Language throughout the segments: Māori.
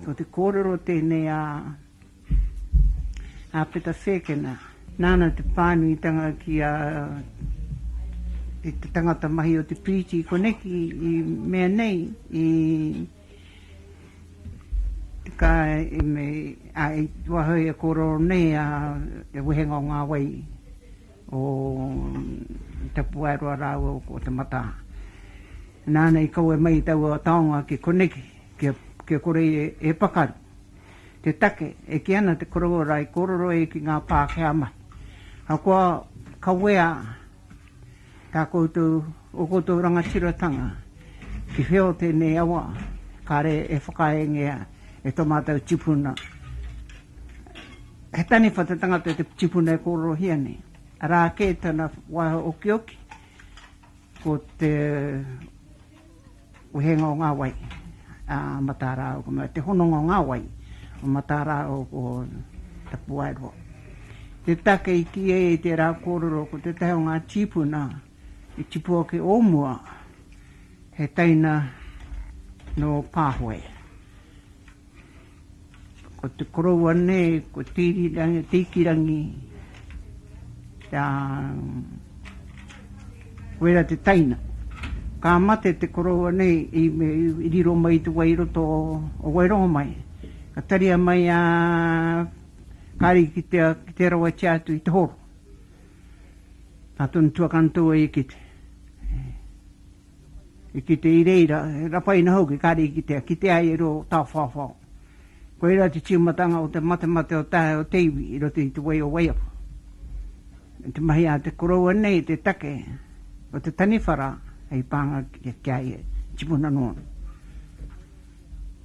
Ko te kōrero tēnei a a Peta Whēkena. Nāna te pānuitanga ki a e te tangata mahi o te piriti koneki i mea nei i ka i me a i wahoi e kōrero nei a te wehenga o ngā wai o Tapuaeroa rāua ko Te Mataa. Nāna i kawe mai taua taonga ki koneki. Kia kore e pakaru te take e kī ana te korowai i kōrero ai ki ngā Pākehā mahi. Ahakoa kawea tā koutou, ō koutou rangatiratanga ki whio tēnei awa, kāre e whakaeengea e tō mātou tipuna. He taniwha te tangata te tipuna e kōrerohia nei, arā kē tana waiho okioki, ko te. Wehenga o ngā wai a Matarao, te hononga o ngā wai o Matarao ko Tapuaeroa. Te take i kī ai i tērā kōrero ko tētahi o ngā tīpuna i tipu ake o mua he teina nō Pāhoe. Ko te koroua nei, ko Tiikirangi, a, koira te teina. Ka mate te koroua nei i riro mai i te wai i roto o Wairongomai. Ka taria mai a Kari ki te, ki te rawatia atu i te horo. Ka tonu tuakana tō e kite. I kite i reira, he rapaina hoki kare i kitea, kite ai e rua o Tawhawhao. Koirā te tīmatanga o te matemate o te hae o te iwi i roto i te wai o Waiapu. Me te mahi a te koroua nei te take o te taniwhara hei pānga ki a ia, i tipuna noa.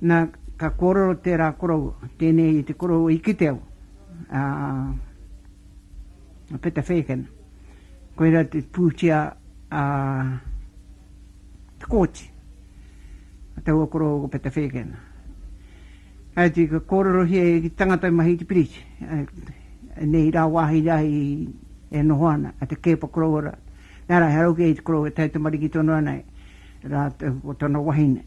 Na, ka kōrero tērā koroua, tēnei te koroua i kite au, ā, a Peta Fagan, koirā te pūtea a Te Kooti, a Taua Koroua ko Peta Fagan. Ka iti ka kōrerohia e ki tangata i mahi i te piriti, nei rā wāhi rā i e noho ana, a Te Keepa Koroua rā. Nā rā, he rau kē i te koroua e taitamariki tonu ana e rā ko tana wahine,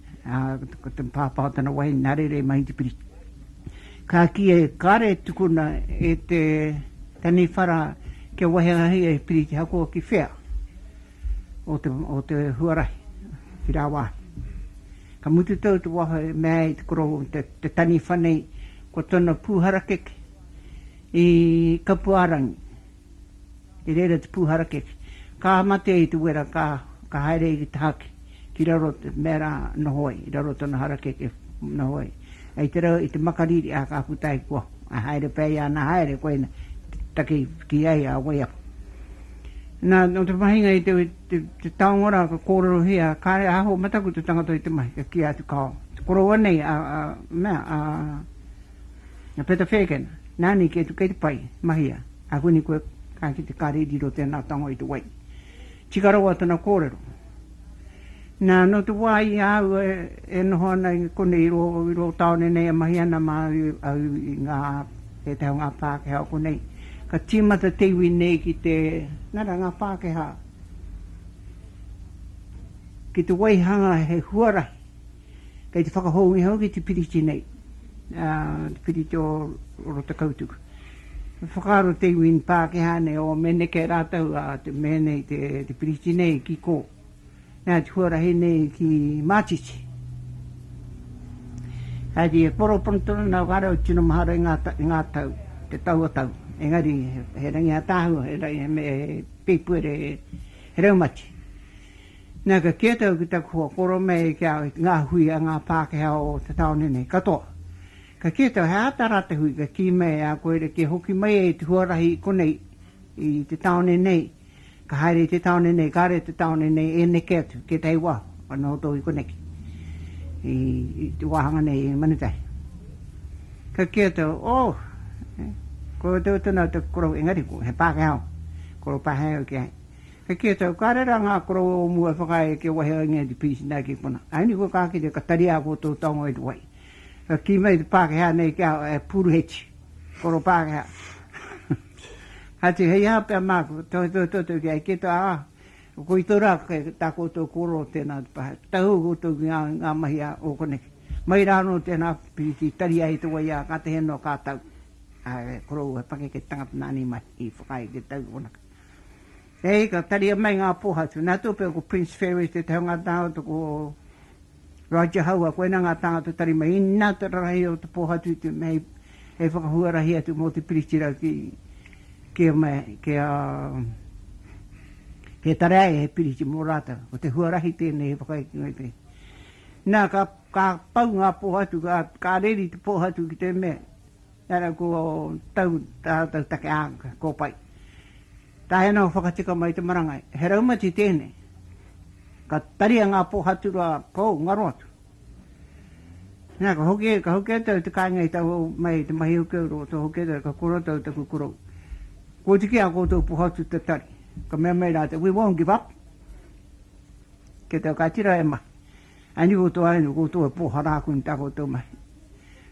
ko te pāpā o tana wahine nā reira i mahi i te piriti. Ka kī e kare tukuna e te taniwhara kia wahiahi e Piritihakoa ki whea o te o te huarahi ki rāwāhi. Ka mutu tou te waho e mea ai te koro te te taniwha nei kua tona pū harakeke i Kapuārangi. I reira te pūharakeke, ka matea i te wera, ka, ka haere i te haki, ki raro te mea rā, noho ai, i raro tona harakeke, noho ai. I te rau, i te makariri, ā, ka puta ai, kua, ā, haere pea ia, nā, haere, koina, taki, ki ai a Waiapu. Nā, nō te mahinga i te, te, te taonga rā, ka kōrerohia, kāre e aho mataku te tangata i te mahi, kia kī atu, Kāo, te koroua nei a, a, mea, a, Na Peta Whēkena, Nani kei tu kei te pai, mahia, a Wini koe ka kite kare i riro tēnā tango i te wai. Tika rawa tana kōrero. Na no te wā i a au e noho ana i konei i rō taone nei e mahi ana ma au i ngā pētahi o ngā Pākehā o konei, ka tīmata te iwi nei ki te, nara ngā Pākehā, ki te waihanga he huarahi. Kei te whakahōunga hoki te piriti nei, te piriti o Rotakautuku. He whakaaro te iwi Pākehā nei, o me neke rātou a te mea nei, te piriti nei ki kō. Nā te huarahi nei ki Mātiti. Engari e koro pono tonu ana whakaaro au, tino mahara i ngā tau, te taua tau. Engari he rangi ātaahua, he rangi me pēpuere, he raumati. Nā, ka kī atu au ki taku hoa, koro mai ki a au ngā hui a ngā Pākehā o te tāone nei katoa. Ka kī atu au, he āta rā te hui, ka kī mai e a koe, kia hoki mai e te huarahi i konei, i te tāone nei, ka haere i te tāone nei, kāre i te tāone nei e neke atu ki ētahi wā, ka nohotohu i koneki, i te wāhanga nei i Manutahi. Ka kī atu au, oh, koutou tonu au taku koro, engari, he Pākehā au, koro Pākehā au ki a ia. He kētau ka rera ngā koroua o mua e whakaae kia wahi a Ingēti Peace nā ki konā. Ai ni koe ka kite ka tari ā koutou taonga i te wai. Ka kī mai te Pākehā nei kia e Puruheti, koro Pākehā. Hati, hei aha pea māku, tohetohe toto ki ai ki te ā, koitou rā kei tā koutou koro tēnā te pae. Tahū koutou ki ngā, ngā mahi a ō koneke. Mai rā anō tēnā piriti tari ai te wai ā ka tehe noa ka tau. Ā, he koroua pakeke tangata nāna i mahi, i whakaae kia tau ki konā. He hika, taria mai ngā pōhatu. Nā Tūpeo ko Prince Ferry tētahi o ngā tāngata, ko Roger Haua, koinā ngā tāngata tari mai. Inā te rarahi o te pōhatu te mea hei whakahuarahi atu mō te Piritira ki ki a mea, ki a ki a Tareae he piriti mō rātou. Ko te huarahi tēnei he whakaikinga i te. Nā, ka ka pau ngā pōhatu, ka ka reri te pōhatu ki te mea, Tara ko tau ratou take anga, ko pai. Tae ana whakatika mai te marangai, he raumati tenei. Ka taria nga po haturua pou ngaro atu. Na ka hoki, ka hoki atu au te kainga i tau au mai te mahi hoki au ro to hoki atu ka koro atu au taku korou. Ko te ki a koutou po hatu te tari. Ka mea mai ratou, we won't give up. Ke tau ka tira e mahi. Anei o tō ainu ko tō e pōhara aku ni tā koutou mahi.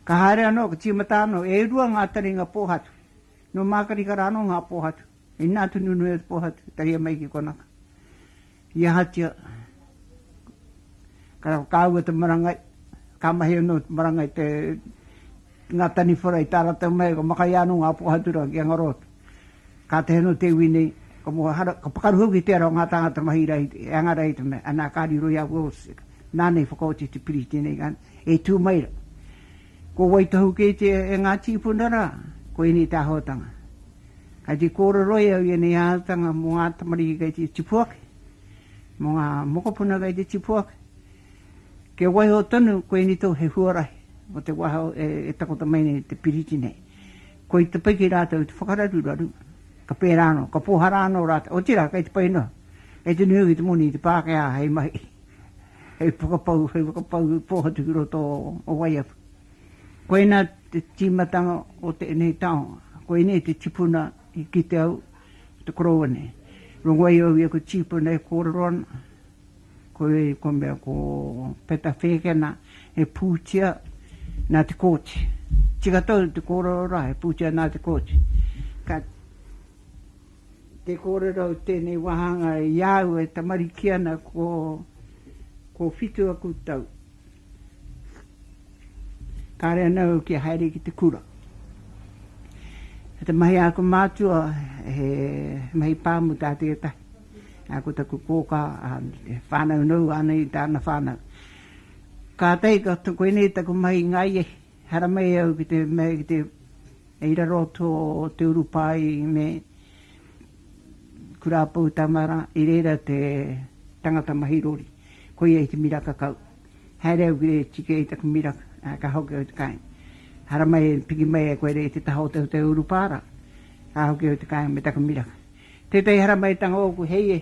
Ka haere anō, ka tīmata anō, e rua ngā taringa pōhatu. Nō Mākarikara anō ngā pōhatu. Inā tonu nui atu pōhatu, taria mai ki konaka. I ahatia, ka kāua te marangai, ka mahi anō te marangai te, ngā taniwhara i tā rātou mahi, ka makaia anō ngā pōhatu rā ki Angarōto. Ka tehe anō te iwi nei, ka moe hara, ka pakaru hoki te ara o ngā tāngata mahi rā i te, e anga rā i te mea, anā, ka riro i a Wills, nāna i whakaoti te piri i tēnei rā, e tū mai rā. Ko wai tohu kē te, e ngā tīpuna rā, ko ēnei te āhuatanga. Kai te kōrero i au i ēnei āhuatanga mō ngā tamariki kei te tipu ake, mō ngā mokopuna kei te tipu ake, kia waiho tonu, ko ēnei tohu he huarahi mō te wā e takoto mai nei te piriti nei. Koi te pai ki rātou te whakararuraru, ka pērā anō, ka pōhara anō rātou, otirā kei te pai noa, kei te nui hoki te moni i te Pākehā hei mahi, hei whakapau, hei whakapau pōhatu ki roto o Waiapu. Koinā te tīmatanga o tēnei taonga, koinei te tipuna i kite au, te koroua nei. Rongo ai au ia ko tīpuna e kōrero ana. Koe i ko mea ko Peta Whēkena he pūtia nā Te Kooti. Tika tau te kōrero rā, he pūtia nā Te Kooti. Ka te kōrero i tēnei wāhanga i a au e tamariki ana ko ko whitu aku tau. Kāre ana au kia haere ki te kura. Te mahi a aku mātua he mahi pāmu tā tētahi. Nā, ko taku kōkā, he whānau noa ānei tāna whānau. Kātahi ka, koinei taku mahi i ngā ia, haramai au ki te mea, ki te, i raro tō te urupā i me Kura Poutamaara, i reira te tangata mahi rori. Koia i te miraka kau. Haere au ki te tiki i taku miraka, ā, ka hoki au te kāinga. Haramai, piki mai e koe nei te taha o te urupā rā, ka hoki au te kāinga me taku miraka. Tētahi haramaitanga ōku hei e.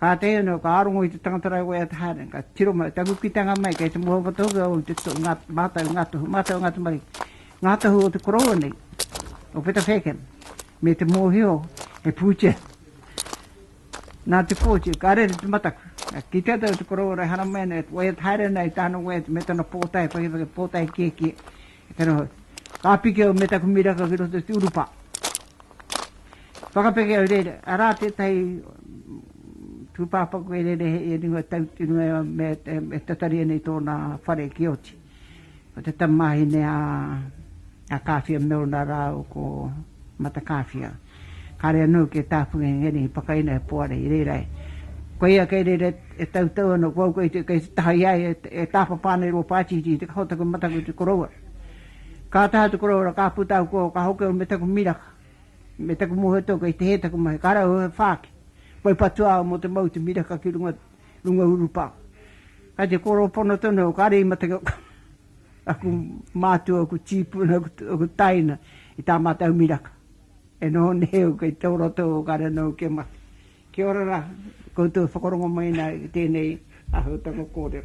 Kātahi anō ka rongo i te tangata rāua i a Te Haarani, ka tiro mai, ka kukitanga mai kei te mohoao tohu a Ōrite Tū, ngā mātau, ngā tohu, mātau ngā tamariki, ngā tohu o te koroua nei, o Peta Faircamp, me te mōhio he pūtea. Nā te pōti, ka rere te mataku, ka kitea tau te koroua e haramai ana, e waiata haere ana i tāna waiata me tana pōtae, whakewhake pōtae kiekie, He noho. Ka piki au me taku miraka ki roto i te urupa. Whakapeke au rere, arā tētahi tūpāpaku e rere hei e runga tau, e runga me, e tatari nei tōna whare ki oti. Ko te tamahine a, a Kāwhia Milner rāu ko Mata Kāwhia. Kāre anō kia tāpuhi a Ngēni hei whakaina e Poari i reira e. Koia kei reira e tautau ana ko au kei te taha i a ia e tāpapa ana i rō pātiti i te kaha o taku mataku i te koroua. Ka taha te koroua ra ka puta au kō ka hoki au me taku miraka me taku mōhioto kei te hē taku mahi ka rau au he whāki. Whai patua au mō te mau i te miraka ki runga urupā. Kai te kōrō pono tonu au kāre i mate kau. Aku mātua, aku tīpuna, aku taina i tā mātou miraka. E noho nei au kei tō roto o ka rena au kia mate. Kia ora rā, koutou e whakarongo mai nei i tēnei āhuatanga kōrero.